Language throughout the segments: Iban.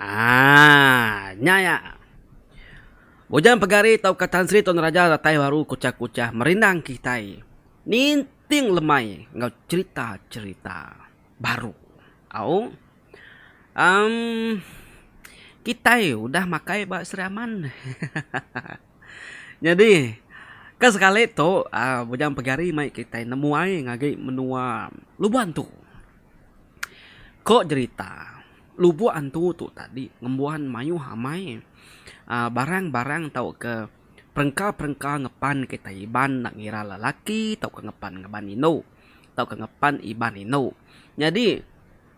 Aaa. Nya iya. Bujang pegari tauka tan sri tun raja datai baru kuchah-kuchah merindang kitai. Ninting lemai enggau cherita-cherita baru. Au. Em. Kitai udah makai ba Sri Aman. Nyadi ke sekali tu Bujang Pegari mai kitai nemuai ngagai menua Lubok Antu. Ko jerita Lubok Antu tu tadi ngembuan mayuh amai barang-barang tauka. Perengka-perengka ngepan kitai Iban enda ngira lelaki tauka ngepan ngaban indu tauka ngepan Iban indu. Nyadi,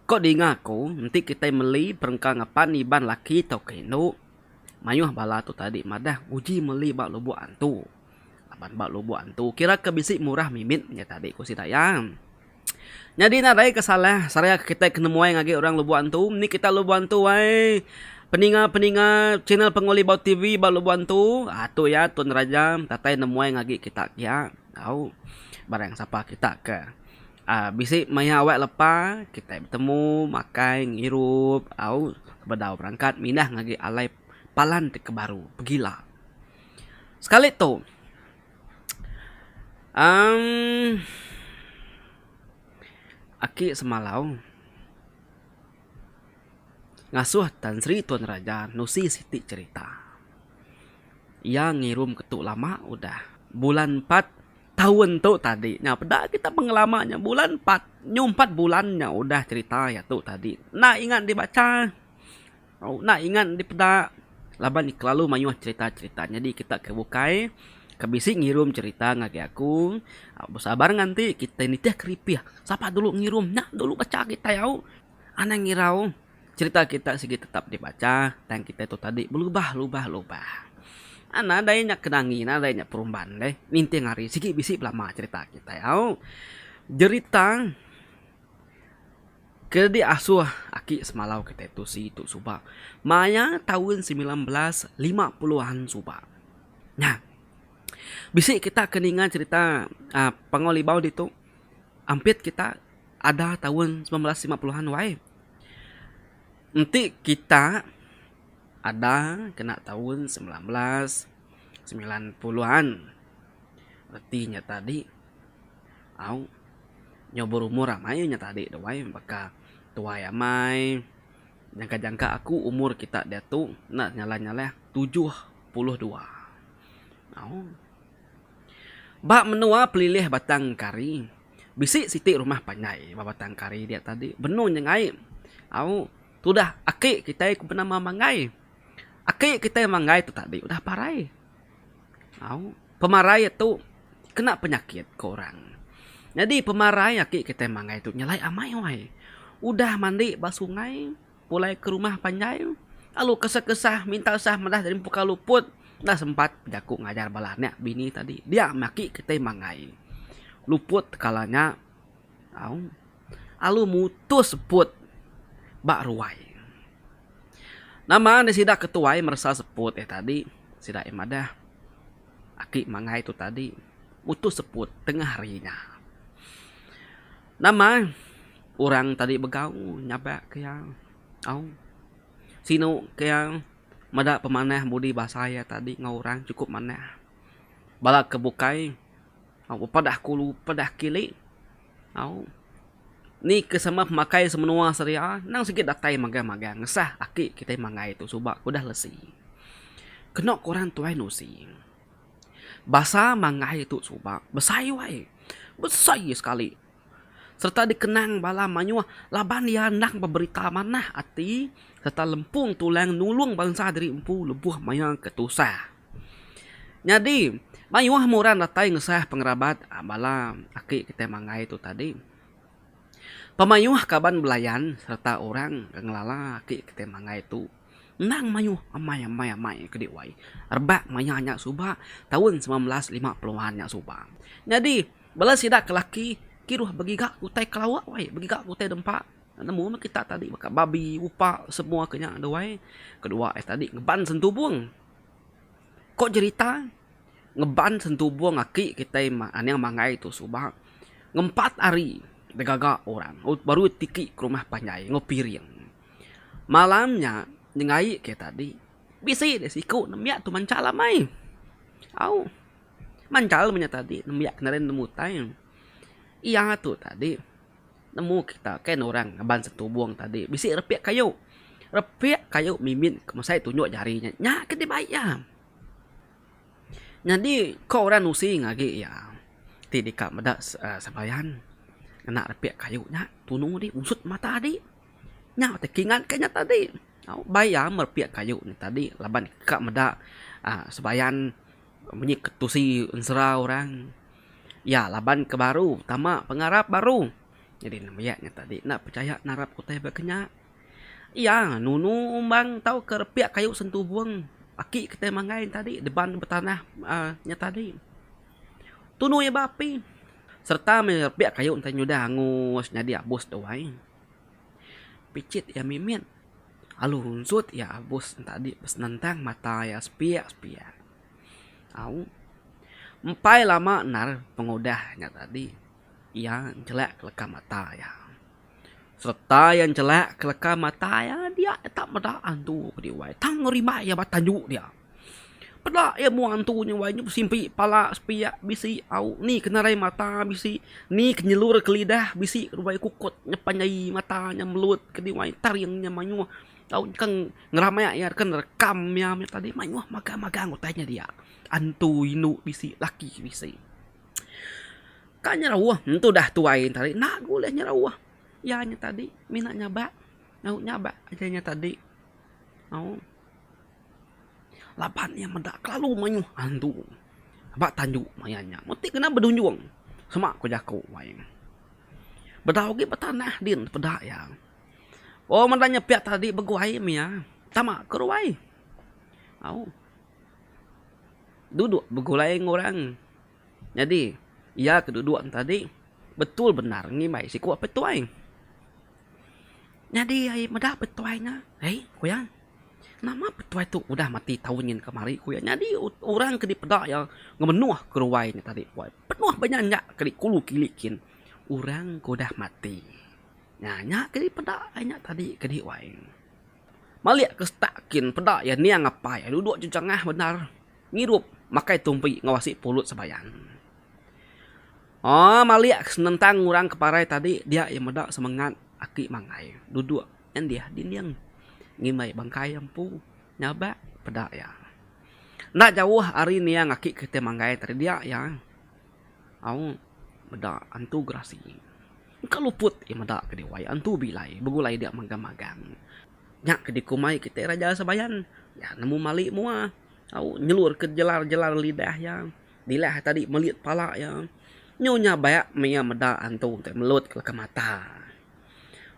ko dinga aku enti kitai meli perengka ngepan Iban lelaki tauka indu, mayuh bala tu tadi madah uji meli ba lubok antu. Laban ba lubok antu kiraka bisi murah mimit nya tadi ku sida iya. Nyadi nadai ke salah seraya ke kitai ke nemuai ngagai orang lebuh antu. Indi kitai lebuh antu ai peninga-peninga channel penguli bau TV ba lebuh antu uhh tu iya Tun Raja datai nemuai ngagai kita kiya tau barang sapa kita ke uhh bisi maya awak lepa kitai betemu makai ngirup tau bedau berangkat mindah ngagai alai palan ti ke baru pegila sekali tu. Umm Aki semalau ngasuh Tan Sri Tun Raja nusi siti cherita. Iya ngirum ke tu lama udah bulan empat taun tu tadi nya peda kita pengelama nya bulan empat nyu empat bulan nya udah cherita iya tu tadi enda ingat dibacha. Enda ingat dipeda laban kelalu mayuh cherita-cherita nyadi kita ke bukai ke bisi ngirum cherita ngagai aku besabar ngan ti kitai nitih keripih sapa dulu ngirum nya dulu bacha kitai au anang ngirau cherita kita sigi tetap dibacha tang kitai tu tadi belubah lubah lubah nadai nya kenangi nadai nya perumban deh ninting hari sigi bisi belama cherita kitai au jerita. Ke diasuh aki semalau kitai tu si Tu Suba maya taun semilan belas lima puluh an suba. Nya. Bisi kita ke ninga cherita aaa Panggau Libau ditu ampit kita ada taun semilan belas lima puluh an wai. Enti kita ada kena taun semilan belas semilan puluh an reti nya tadi. Au. Nyau berumur amai iya nya tadi tu wai baka tuai amai. Jangka-jangka aku umur kita diatu enda nyalah-nyalah tujuh puluh dua. Au. Ba menua pelilih Batang Kari, bisi siti rumah panjai ba Batang Kari dia tadi. Benung nya ngai. Au. Tudah aki kitai ku benama Manggai. Aki kitai Manggai tu tadi udah parai. Au, pemarai tu kena penyakit ke orang. Nyadi pemarai ati kitai mangai tu nyelai amai wai. Udah mandi ba sungai, pulai ke rumah panjai, lalu kesah kesah minta sah meda ari empu ka luput, enda sempat bejaku ngajar bala anak bini tadi. Dia meh ati kitai mangai. Luput kala nya, au. alu mutus seput ba ruai. Nama nih sida ke tuai meresa seput eh tadi sida eh madah aki mangai tu tadi mutus seput tengah hari nya. Nama orang tadi begau nyabak ke iya au sinu ke iya meda pemanah budi basa iya tadi enggau orang cukup manah bala ke bukai au pepadah kulu pepadah kili. Au. Ni ke sama pemakai semenua seria endang sigi datai magang-magang ngesah aki kitai mangai tu suba ke udah lesi. Keno kuran tuai usi. Basa mangai tu suba besai wai. Besai sekali serta dikenang bala mayuh laban iya endang beberita manah ati serta lempung tulang nulung bansa diri empu lebuh maya ke tusah. Nyadi, mayuh meh orang datai ngesah pengerabat bala aki kitai manggai tu tadi. Pemayuh kaban belayan sereta orang ke ngelala aki kitai manggai tu endang mayuh amai-amai kadi wai rebak maya nya suba taun semilan belas lima puluh an nya suba. Nyadi, bala sida ke laki kiruh begiga ke utai ke lawa wai, begiga ke utai dempa. Nemu meh kita tadi baka babi, upa semua ke nya deh wai. Kedua ari tadi ngeban sentubong. Ko jerita ngeban sentubung aki kitai aning Mangai tu suba ngempat hari degaga orang baru tiki ke rumah panjai enggau piring. Malam nya nyengai ke tadi bisi deh siku nembiak tu manchal amai. Au manchal inya tadi nembiak nemu utai iya tu tadi. Nemu kita kain orang ngaban setubung tadi bisi repik kayu. Repik kayu mimin ke mesai tunjuk jari nya. Nya ke dibai iya. Nyadi ko orang nusing agi iya ti deka meda uhh sembahyang ngena repik kayu nya tunu di ngusut mata di. Nya ti ke ingat ku nya tadi. Au bai iya merepik kayu nya tadi laban ka meda uhh sembahyang. Munyi ke tusi ensera orang. Iya laban ke baru tama pengarap baru. Nyadi ne maya nya tadi enda pechaya narap ke utai baka nya. Iya nunu umbang tauka repik kayu sentubung aki ke tai manggai ne tadi deban betanah uhh nya tadi. Tunu iya ba api sereta mih repik kayu tai nyudah angus nyadi abus tuai. Picit iya mimit. Lalu runsut iya abus enti adi besenentang mata iya sepiak-sepiak. Au. Empai lama endar pengudah nya tadi iya njelak leka mata iya. Sereta iya njelak leka mata iya dia tak meda antu bediwai tang rimbai iya ba tandu dia. Peda iya mua antu nya wai nya besimpi pala sepiak bisi au ni ke narai mata bisi ni ke nyelur ke lidah bisi ruai kukut nyepan nyai mata nya melut kadi wai taring nya mayuh tau nyengkang ngerami iya ke nerekam iya meh tadi mayuh magang magang utai nya dia antu indu bisi laki bisi kai nyerauh antu dah tuai nya tadi enda buleh nyerauh iya nya tadi mina nyabak dau nyabak nya tadi au. Laban iya meda kelalu mayuh antu ba tandu maya nya mun ti kena bedunjung sema ku jaku wai. Bedau agi betanah din peda iya. Wang meda nyepiak tadi beguai mih iya tama ke ruai au duduk begulai enggau orang. Nyadi, iya ke duduk enti tadi betul bendar ngimbai siku apai tuai. Nyadi ai meda apai tuai nya, ai ku iya, nama apai tuai tu udah mati taun nyin kemari ku iya. Nyadi orang ke dipeda iya ngemenuh ke ruai nya tadi ku iya. Penuh ba nya nya ke dikulu kilik kin orang ke udah mati. Nya nya ke dipeda ai nya tadi ke di wai. Malik ke setak kin peda iya ning apai iya duduk jejengah bendar. Ngirup makai tumpi ngawasi pulut sebayan. Aa malik senentang ngurang ke parai tadi dia iya meda semengat aki mangai duduk endih dinding ngimbai bangkai empu nyabak peda iya. Enda jauh ari niang aki kitai manggai tadi dia iya au meda antu gerasi. Engka luput iya meda ke diwai antu bilai begulai dia magang-magang. Nya ke dikumbai kitai raja sebayan iya nemu malik mua. Au nyelurka jelar-jelar lidah iya. Dilah tadi melit pala iya. Nyu nyabak maya meda antu ti melut leka mata.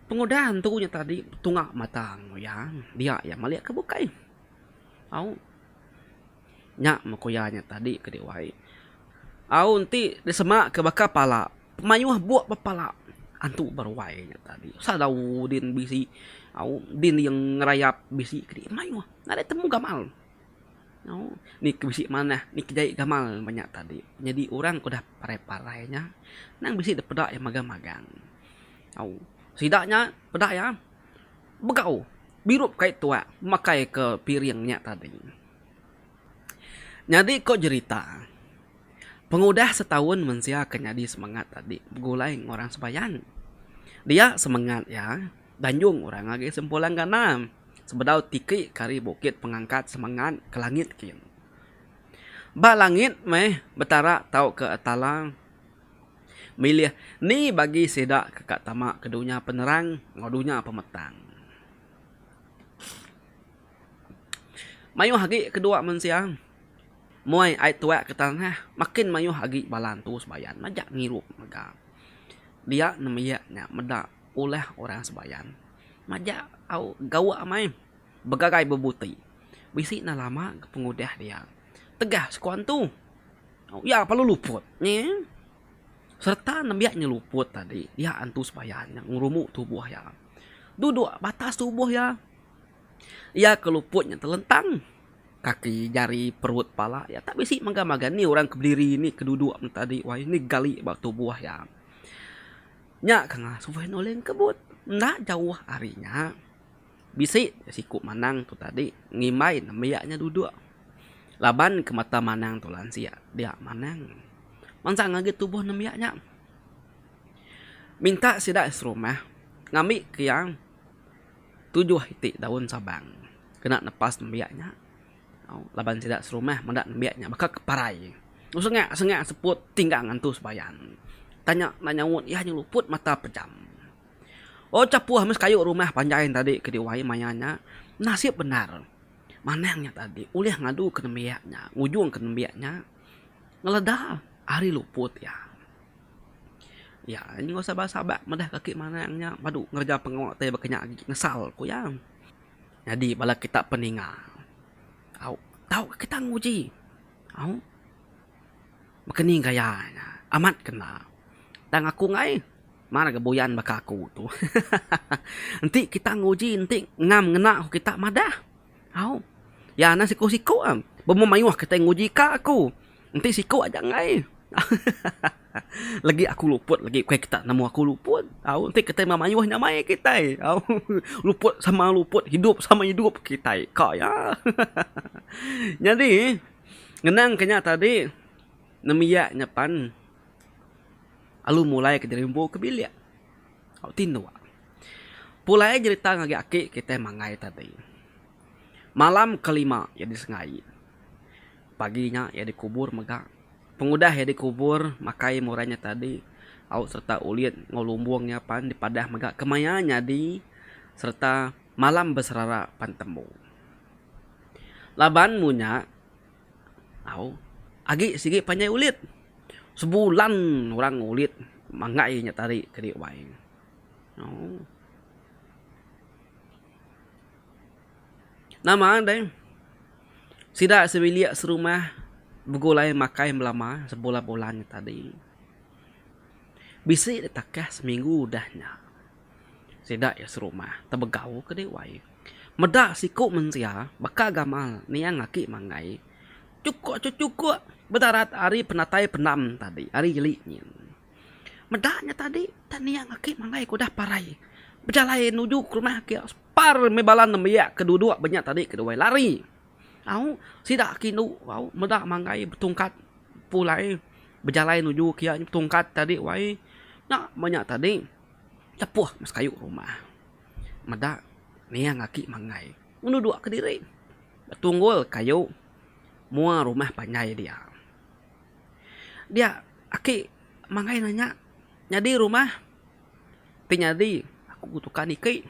Pengudah antu nya tadi betunga mata enggau iya. Dia iya melika bukai. Au nya meh ku iya nya tadi ke dek wai. Au enti disemaka baka pala mayuh buk ba pala antu ba ruai nya tadi. Sadau din bisi. Au din iya ngerayap bisi kadi mayuh. Nadai temu gamal. Au. Ni ke bisi manah, ni ke jai gamal nuan nya tadi. Nyadi orang ke udah parai-parai nya, nang bisi dep peda iya magang-magang. Au. Sida nya peda iya begau, birup kai tuak makai ke piring nya tadi. Nyadi ko jerita, pengudah setaun mensia ke nyadi semangat tadi begulai enggau orang sebayan. Dia semangat iya. Danjung orang agi sempulang ganam. Sebedau tiki ke ari bukit pengangkat semangat ke langit kin. Ba langit meh betara tauka talang milih ni bagi sida ke ka tama ke dunya penerang enggau dunya pemetang. Mayuh agi kedua mensia muai ai tuak ke tanah makin mayuh agi bala entu sebayan majak ngirup mega dia nembiak nya meda. Ulah orang sembahyang majak au gawa amai begagai bebuti bisi enda lama ke pengudah dia tegah sekua entu au iya perlu luput nyi serta nembiak nyi luput tadi dia entu sembahyang nya ngerumu tubuh iya duduk batas tubuh iya iya ke luput nya telentang kaki jari perut pala iya tak bisi mega-mega ni orang ke bediri ni ke duduk tadi wai ni gali ba tubuh iya. Nya ke ngasuh Wan Oleng kebut. Enda jauh ari nya, bisi ja siku Manang tu tadi ngimbai nembiak nya duduk. Laban ke mata Manang tu lansia, dia Manang mansang agi tubuh nembiak nya. Minta sida serumah ngambika iya tujuh iti daun sabang kena nepas nembiak nya. Laban sida serumah meda nembiak nya baka ke parai. Sengak-sengak seput tinggang ngantu sebayan. Tanya enda nyaut iya nya luput mata pejam. O chapuh meh sekayu rumah panjai nya tadi ke diwai maya nya nasip bendar. Manang nya tadi ulih ngadu ke nembiak nya ngujung ke nembiak nya ngeleda ari luput iya. Iya enggau sabar-sabar meda kaki Manang nya padu ngereja pengawa ti baka nya agi nyesal ku iya. Nyadi bala kita peninga. Au. Tauka kita nguji. Au. Baka ni gaya nya. Amat kena. Tang aku ngai. Mar ga buyan baka aku tu. Enti kita nguji enti ngam ngena ku kita madah. Au. Ya na siku-siku am. Bemu mayuh kitai nguji ka aku. Enti siku aja enggai legi aku luput legi ukai kita nemu aku luput au enti kitai meh mayuh nyamai kitai au luput sama luput hidup sama hidup kitai ka ya nyadi ngenang ke nya tadi nembiak nya pan alu mulai ke dirimbu ke bilik au tinduk pulai jerita ngagai aki kitai mangai tadi malam kelima iya disengai. Pagi nya iya dikubur mega pengudah iya dikubur makai murai nya tadi au sereta ulit enggau lumbung iya pan dipadah mega kemaya nyadi sereta malam beserara pan tembu. Laban mu nya au agi sigi panjai ulit sebulan orang ulit manggai nya tadi kadi wai. Nama deh sida sebilik serumah begulai makai belama sebulan bulan nya tadi bisi deh takah seminggu udah nya sida iya serumah tebegau kedi wai meda siko mensia baka gamal niang aki mangai chuko cho chuko bedarat ari penatai pendam tadi ari geli nyin meda nya tadi niang aki mangai ke udah parai bejalai nuju ke rumah aki. Par meh bala nembiak ke duduk ba nya tadi ke dawai lari. Au, sida agi indu, au, meda manggai betungkat pulai bejalai nuju kiya nya betungkat tadi wai. Nya ba nya tadi tepuh meh sekayu rumah. Meda niang aki manggai ngeduduk kediri ba tunggul kayu mua rumah panjai dia. Dia aki manggai nanya nyadi rumah. Ti nyadi aku tukar niki.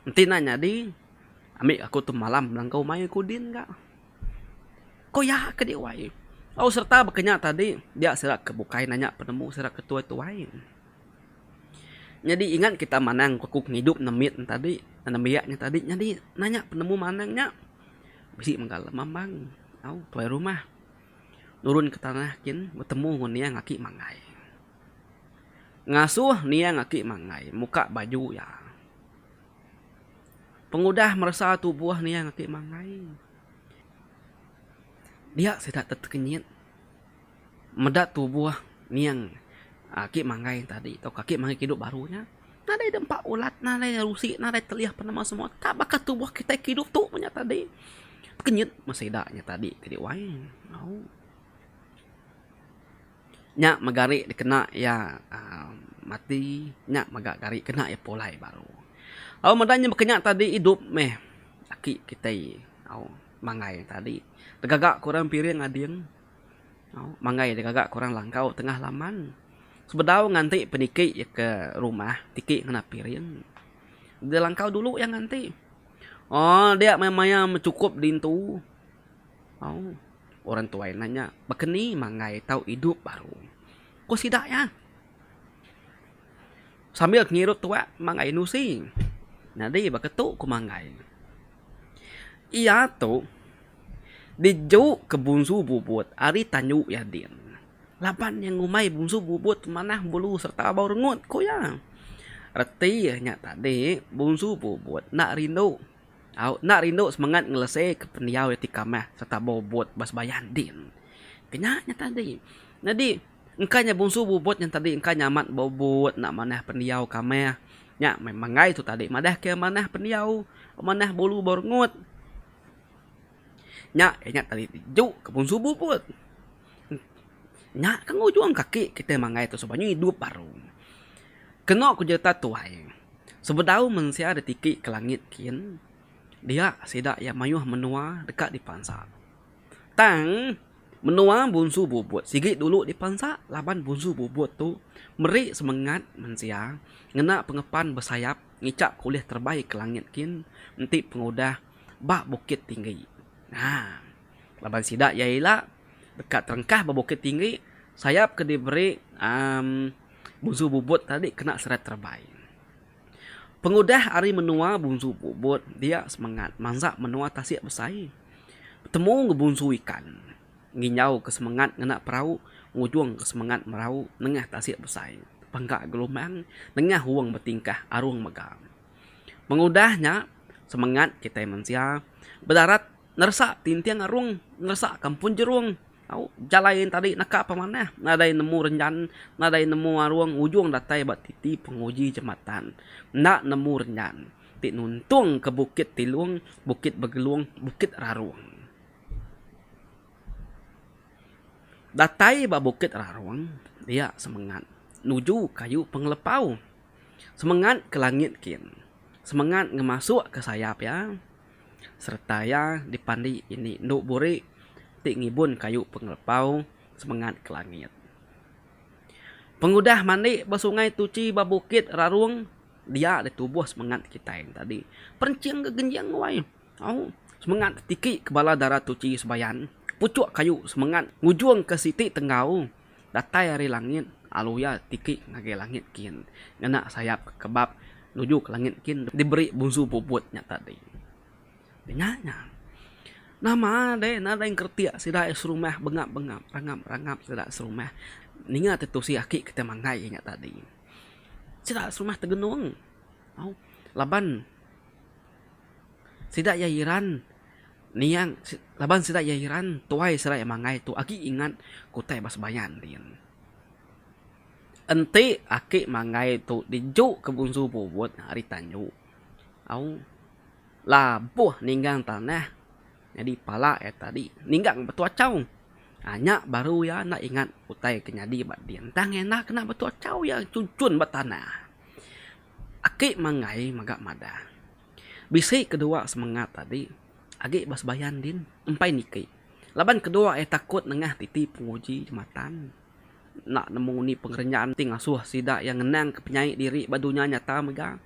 Enti nya nyadi ami aku tu malam nangkau mai aku din ga. Ko iya ke dek wai. Au serta baka nya tadi dia sida ke bukai nanya penemu sida ke tuai-tuai. Nyadi ingat kita manang aku ke ngidup ndek mit nya tadi nembiak nya tadi nyadi nanya penemu manang nya bisi mega lem ambang au tuai rumah. Nurun ke tanah kin betemu ngan niang aki Mangai. Ngasuh niang aki Mangai muka baju iya. Pengudah meresa tubuh niang aki Mangai, dia sida tetekenyit meda tubuh niang aki Mangai tadi tauka aki Mangai kidup baru nya. nadai dempa ulat nadai rusi nadai telih apan amat semua tak baka tubuh kitai ke idup tu nya tadi pekenyit meh sida nya tadi kadi wai au nya meh gari dikena iya aaa mati nya meh ga gari kena iya pulai baru au meda nya meka nya tadi idup meh aki kitai au mangai tadi tegaga ke orang piring ading. Manggai dek gaga ke orang langkau tengah laman sebedau ngan ti peniki ke rumah tiki ngena piring de langkau dulu iya ngan ti ooh dia meh maya bechukup dintu ooh orang tuai nanya baka ni manggai tau idup baru ku sida iya. Sambil ngirup tuak Manggai Nusi. Nyadi baka tu ku Manggai. Iya tu dijuk ke Bungsu Bubut ari Tanjung Yadin laban iya ngumbai Bungsu Bubut manah bulu sereta abau rengut ku iya. Reti nya tadi Bungsu Bubut enda rindu au enda rindu semengat ngeleseka pendiau iya ti kamah sereta bobot ba sebayang din. Ke nya nya tadi. Nyadi. Engka nya bungsu bubut nya tadi engka nya amat bubut enda manah pendiau kamah. Nya meh manggai tu tadi madah ke manah pendiau manah bulu berngut. Nya ke nya tadi ju ke bungsu bubut. Nya ke ngujung kaki kita manggai tu suba nya idup baru. Keno ku jerita tuai sebedau mensia ditiki ke langit kin dia sida iya mayuh menua deka dipansa. Tang, menua Bunsu Bubut sigi dulu dipansa laban Bunsu Bubut tu meri semengat mensia ngena pengepan besayap ngichap ke ulih terebai ke langit kin enti pengudah ba bukit tinggi. Nya laban sida iya ila deka terengkah ba bukit tinggi, sayap ke diberi uhh Bunsu Bubut tadi kena seret terebai. Pengudah ari menua bunsu Bubut dia semengat mansa menua tasik besai betemu enggau bunsu ikan nginjauka semengat ngena perau ngujungka semengat merau nengah tasik besai bangka gelombang nengah wong betingkah arung mega. Pengudah nya semengat kitai mensia bedarat neresa tinting arung neresa kampung jerung. Au, jalai enti tadi naka pemanah nadai nemu renjan, nadai nemu arung ujung datai ba titi penguji jematan. Enda nemu renjan ti nuntung ke Bukit Tilung, Bukit Begelung, Bukit Rarung. Datai ba Bukit Rarung dia semengat nuju ke ayu pengelepau. Semengat ke langit kin. Semengat ngemasukka sayap iya. sereta iya dipandi indi endu buri ti ngibun kayu pengelepau semengat ke langit. Pengudah mandi ba sungai tuchi ba bukit rarung dia ditubuh semengat kitai ne tadi. Perinching ke genjing wai au semengat tiki ke bala dara tuchi sebayan puchuk kayu semengat ngujungka siti tenggau Datai ari langit, alu iya tiki ngagai langit kin, ngena sayap ke kebap nuju ke langit kin diberi bunsu puput nya tadi. Denya nya, nama deh nadai engkretik sida ai serumah bengap-bengap, rangap-rangap sida serumah ninga ti tusi aki kitai manggai inya tadi. Sida serumah tegenung au laban sida iya iran. Niang, laban sida iya iran, tuai sida iya manggai tu agi ingat kutai ba sembayan din. Enti aki manggai tu diju ke bunsu bubut ari tanju, au labuh ninggang tanah nyadi pala iya tadi ninggang batu achau. Nya baru iya enda ingat utai ke nyadi ba din. Tang iya enda kena batu achau iya chunchun ba tanah. Aki manggai mega madah. Bisi kedua semengat tadi agi ba sebayan din empai niki laban kedua iya takut nengah titi penguji jematan enda nemu ngundi pengereja enti ngasuh sida iya ngenangka penyai diri ba dunya nyata mega.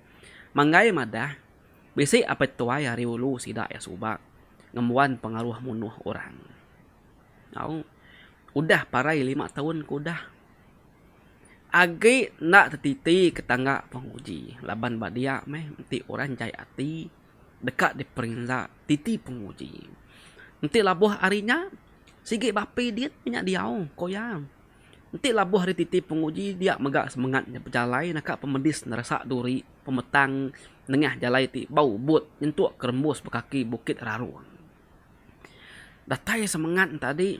Manggai madah, bisi apai tuai ari ulu sida iya suba ngembuan pengaruh munuh orang. Au, udah parai lima taun ke udah. Agi enda tetiti ke tangga penguji laban ba dia meh enti orang jai ati deka diperinsa titi penguji. Enti labuh ari nya sigi ba api diyet meh nya diau ko iya. Enti labuh ari titi penguji dia mega semengat nya bejalai naka pemedis neresa duri pemetang nengah jalai ti bau but nyentuk ke rembus ba kaki Bukit Rarong. Datai semengat enti adi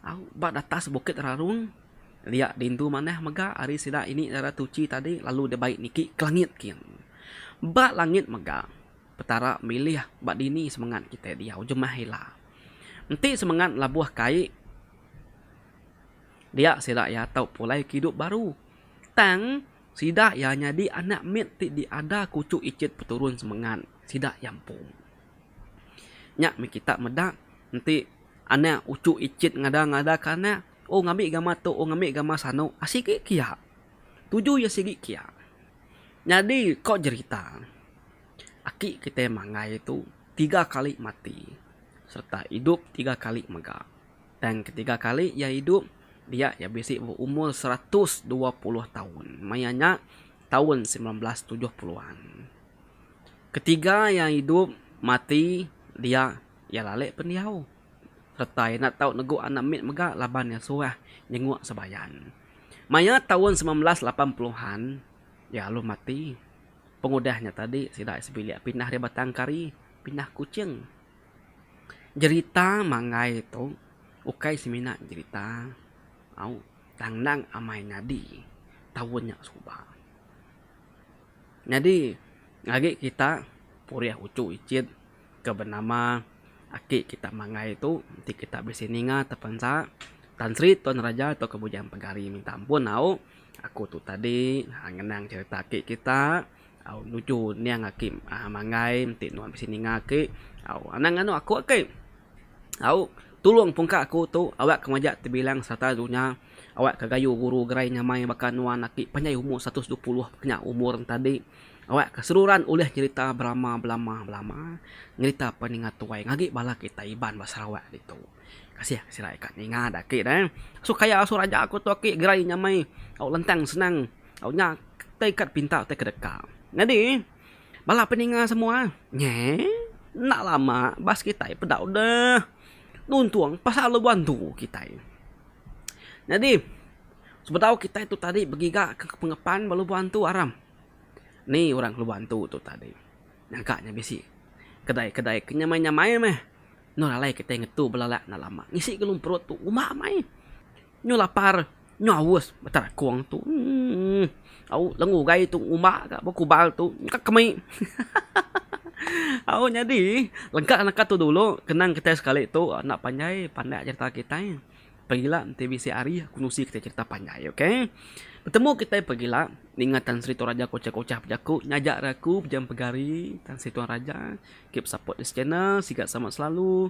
au ba atas bukit rarung lia dintu manah mega ari sida ini ngaran tuchi tadi lalu dibai niki ke langit kin. Ba langit mega petara milih ba dini semengat kitai diau jemah ila. Enti semengat labuh kai dia sida iya tau pulai ke idup baru tang sida iya nyadi anak mit ti diada kuchuk ichet peturun semengat sida iya empu. Nya meh kita meda enti anak uchu ichin ngada ngada ka anak oh ngambi gambar tu oh ngambi gambar sanu sigi kia tuju iya sigi kia nyadi ko jerita aki kita mangai tu tiga kali mati serta idup tiga kali mega tang ketiga kali iya idup dia iya bisi berumur seratus dua puluh taun maya nya taun semilan belas tujuh puluh an. Ketiga iya idup, mati, dia, iya lalik pendiau. Sereta iya enda tau negu anak mit mega laban iya suah nyenguk Sebayan. Maya taun semilan belas lapan puluh an, iya alu mati. Pengudah nya tadi sida iya sebilik pindah ari Batang Kari pindah Kuching. Jerita manggai tu ukai semina jerita au tang endang amai nyadi taun nya suba. Nyadi agi kita purih uchu ichit ke benama aki kita manggai tu enti kita bisi ninga tepensa Tan Sri Tun Raja tauka Bujang Pegari minta ampun au aku tu tadi ngenang cherita aki kita au nuju ning aki manggai enti nuan bisi ninga aki au anang anu aku aki au tulung pungka aku tu awak ke majak tebilang sereta dunya Awak ka gayu guru gerai nyamai baka nuan aki panjai umur seratus dua puluh kena umur entadi. Awak ka seruran ulih nyerita berama belama belama nyerita peninga tuai ngagi bala kita Iban ba Sarawak ditu. Kasih ke sida ika ninga da aki da. Asu kaya asu raja ku tu aki gerai nyamai au lantang senang au nya utai kad pinta utai kedeka. Nyadi bala peninga semua nyeh enda lama bas kitai peda udah. nuntung pasal luban tu kitai. Nyadi, sebedau kitai tu tadi begigaka ke pengepan ba luban tu aram. Ni orang ke luban tu tu tadi nyaga nya bisi kedai-kedai ke nyamai-nyamai meh. Enda alai kitai ngetu belanak enda lama. Ngisi ke lun perut tu uma meh ai. Nyu lapar, nyu aus beta rakong tu emm au lenggu ugai tu ngumba ga ba kubal tu nyungka kemi hahaha au nyadi lengka naka tu dulu kenang kitai sekali tu enda panjai pandak aja enta kitai pengila enti bisi hari aku nusi kitai cherita panjai ok betemu kitai pengila ninga tan sri toraja kochar kochar bejaku ngajak ra aku pejam pegari tan sri toraja keep support this channel siga selamat selalu.